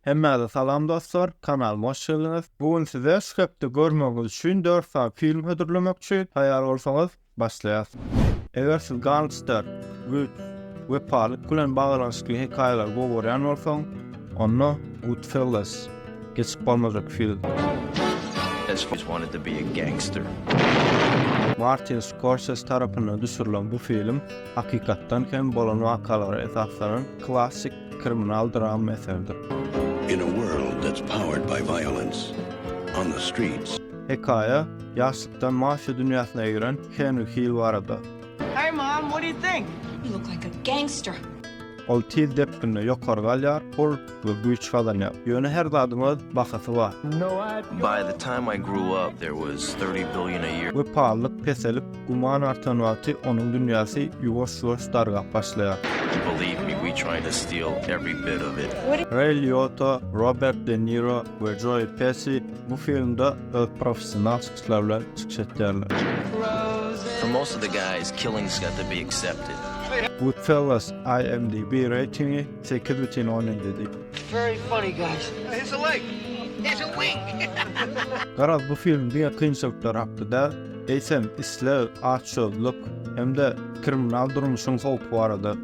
Hemmäze salam dostlar, kanalyma hoş geldiňiz. Bu gün size şu hepde görmegiňiz üçin dört sany film hödürlemekçi, taýýar bolsaňyz başlaýas. Eger siz gangster, güýç, wepalyk bilen baglanyşykly hekaýalary gowy görýän bolsaň, onda Goodfellas geçip bolmajak film. Martin Scorsese tarapyndan düşürilen bu film hakykatdan hem bolan wakalara esaslanan klassik Kriminal drama eseridir. In a world that's powered by violence, on the streets. Hekaýa, ýaşlykdan mafiýa dünýäsine giren Henri Hill barada. Hey mom, what do you think? You look like a gangster. Ol tiz depginde ýokary galýar, pul we güýç gazanýar. Ýöne her zadyň öz bahasy bar. By the time I grew up, there was thirty billion a year. Wepalylyk peselip, Guman artan wagty onuň dünýäsi ýuwaş-ýuwaş dargap başlaýar. Reý Liota, Robert De Niro we Joe Pessi bu filmde öz professional çykyşlary bilen çykyş etýärler. Goodfellas IMDb reýtingi sekiz bütin on ýedi. Garaz, bu film diňe kynçylyklar hakda däl. eýsem isleg, açgözlük hem-de kriminal durmuşyň howpy barada.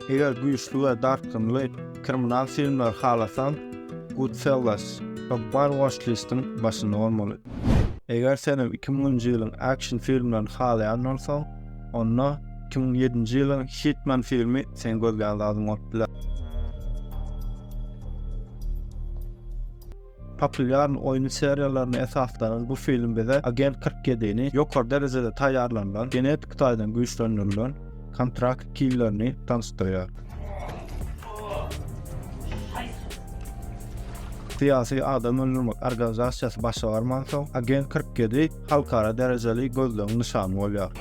Eger güýçli we dartgynly kriminal filmleri halasaň, Goodfellas, Topbar watchlist-iň başynda bolmaly. Eger senem iki müňünji ýylyň action filmlerini halaýan bolsaň, Onda iki müň ýedinji ýylyň Hitman filmi seň gözlän zadyň bolup biler. Populýar oýun seriýalaryna esaslanan bu film bize Agent kyrk ýedini ýokary derejede taýýarlanylan, genetik taýdan güýçlendirilen kontrakt killerini tanyşdyrýar. Syýasy adam öldürmek organizasiýasy başa barmansoň, Agent kyrk ýedi halkara derejeli gözlegiň nyşany bolýar.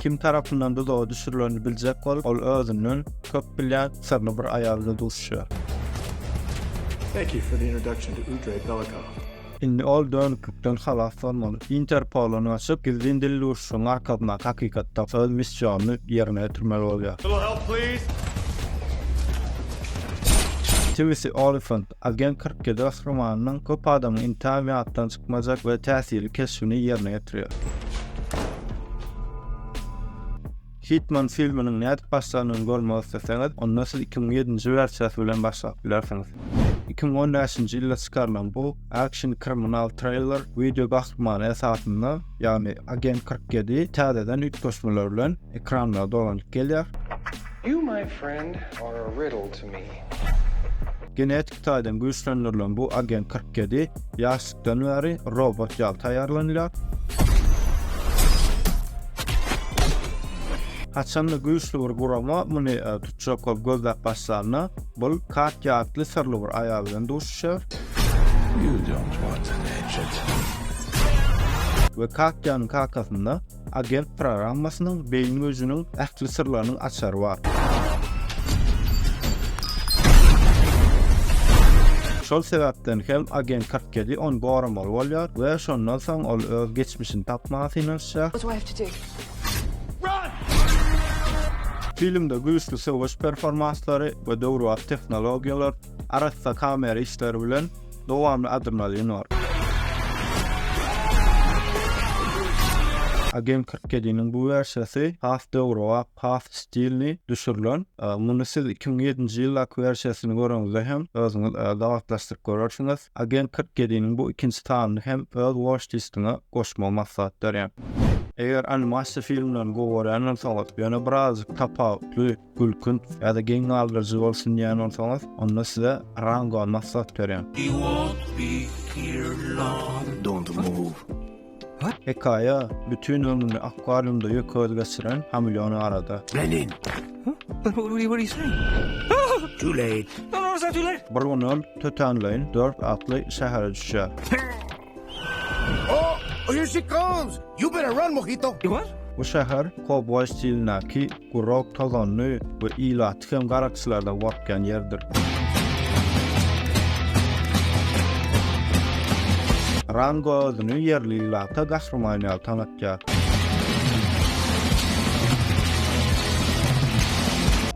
Kim tarapyndan duzaga düşürileni biljek bolup, ol özünden köp bilýän syrly bir aýal bilen duşuşýar. Indi ol dönüklikden halas bolmaly. Interpola ýüzlenip, gizlin dil duşuşygyň arkasyna hakykatda öz missionyny ýerine ýetirmeli bolýar. Tibisi Olifant Agent kyrk ýedi gahrymanynyň köp adamyň intägem ýatdan çykmajak we täsirli keşbini ýerine ýetirýär. Hitman filminiň nädip başlanyny görmek isleseňiz, onda siz iki müň ýedinji wersiýasy bilen başlap bilersiňiz. Iki müň on bäşinji ýylda çykarylan bu akşin-kriminal triller wideo gahrymany esasynda, ýagny Agent kyrk ýedi täzeden üýtgeşmeler bilen ekranlara dolanyp gelýär. You my friend are a riddle to me. Genetik taýdan güýçlendirilen bu Agent kyrk ýedi ýaşlykdan bäri robot ýaly taýýarlanylýar. Haçanda güýçli bir gurama muny tutjakow gözläp başlanda, bul Kak ýatly syrly bir aýal bilen duşuşýar. We Katýanyň kakasynda Agent programmasynyň beýni güýjüniň ähli syrlarynyň açary bar. Şol sebäpden hem Agent 47 ony goramaly bolýar we şondan soň ol öz geçmişini tapmaga synanyşýar. Filmde güýçli söweş performanslary we döwrebap tehnologiýalar, arassa kamera işleri bilen Dowamly adymlar ýene bar. Agent kyrk ýediniň bu wersiýasy has döwrebap, has stilli düşürilen. Muny siz iki müň ýedinji ýyldaky wersiýasyny göreňizde hem özüňiz gabatlaşdyryp görersiňiz. Agent kyrk ýediniň bu ikinji sanyny hem öz watchlist-iňe goşmagy maslahat berýän. Eger animasiýa filmlerini gowy görýän bolsaňyz, ýöne birazajyk tapawutly, gülkün ýa-da geň galdyryjy bolsun diýen bolsaňyz, onda size Rango maslahat berýän. Hekaýa bütin ömrüni akwariumda ýökez geçiren hameleon barada. Bir gün ol tötänleýin dört atly şähere düşýär. Oh, here she comes! You better run, mojito! Ýuwar. Bu şäher kowboý stilindäki gurak, tozanly we ilaty hem garakçylardan gorkýan ýerdir. Rango özüni ýerli ilata gahryman ýaly tanatýar.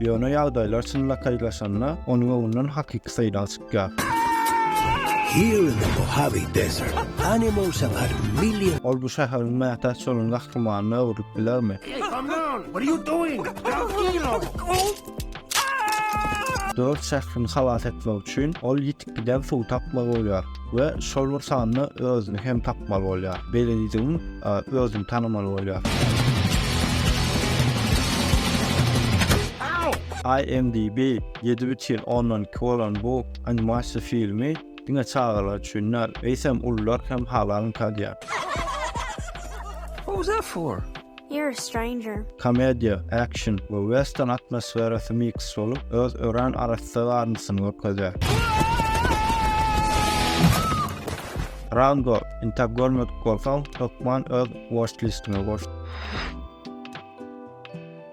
Ýöne ýagdaýlar çynlakaýlaşanda, onuň öňünden hakyky seýrag çykýar. Gah. Here in the Mojave Desert, animals have had millions. Ol bu şäheriň mätäç bolan gahrymanyna öwrülip bilermi? Dört şährini halas etmek üçin ol ýitip giden suwy tapmaly bolýar we şol bir sanda özüni hem tapmaly bolýar. Beýlelidigin özüni tanamaly bolýar. IMDb Ýedi bütin ondan iki bolan bu animasiýa filmi diňe çagalar üçin däl, eýsem ulular hem halal ynkadyar. What was that for? You're a stranger. Komediýa, action we western atmosferasy miks bolup, öz örän arassa garyndysyny görkezýär. Rango, intäk görmedik bolsaň, hökman öz watch-listiňe goş.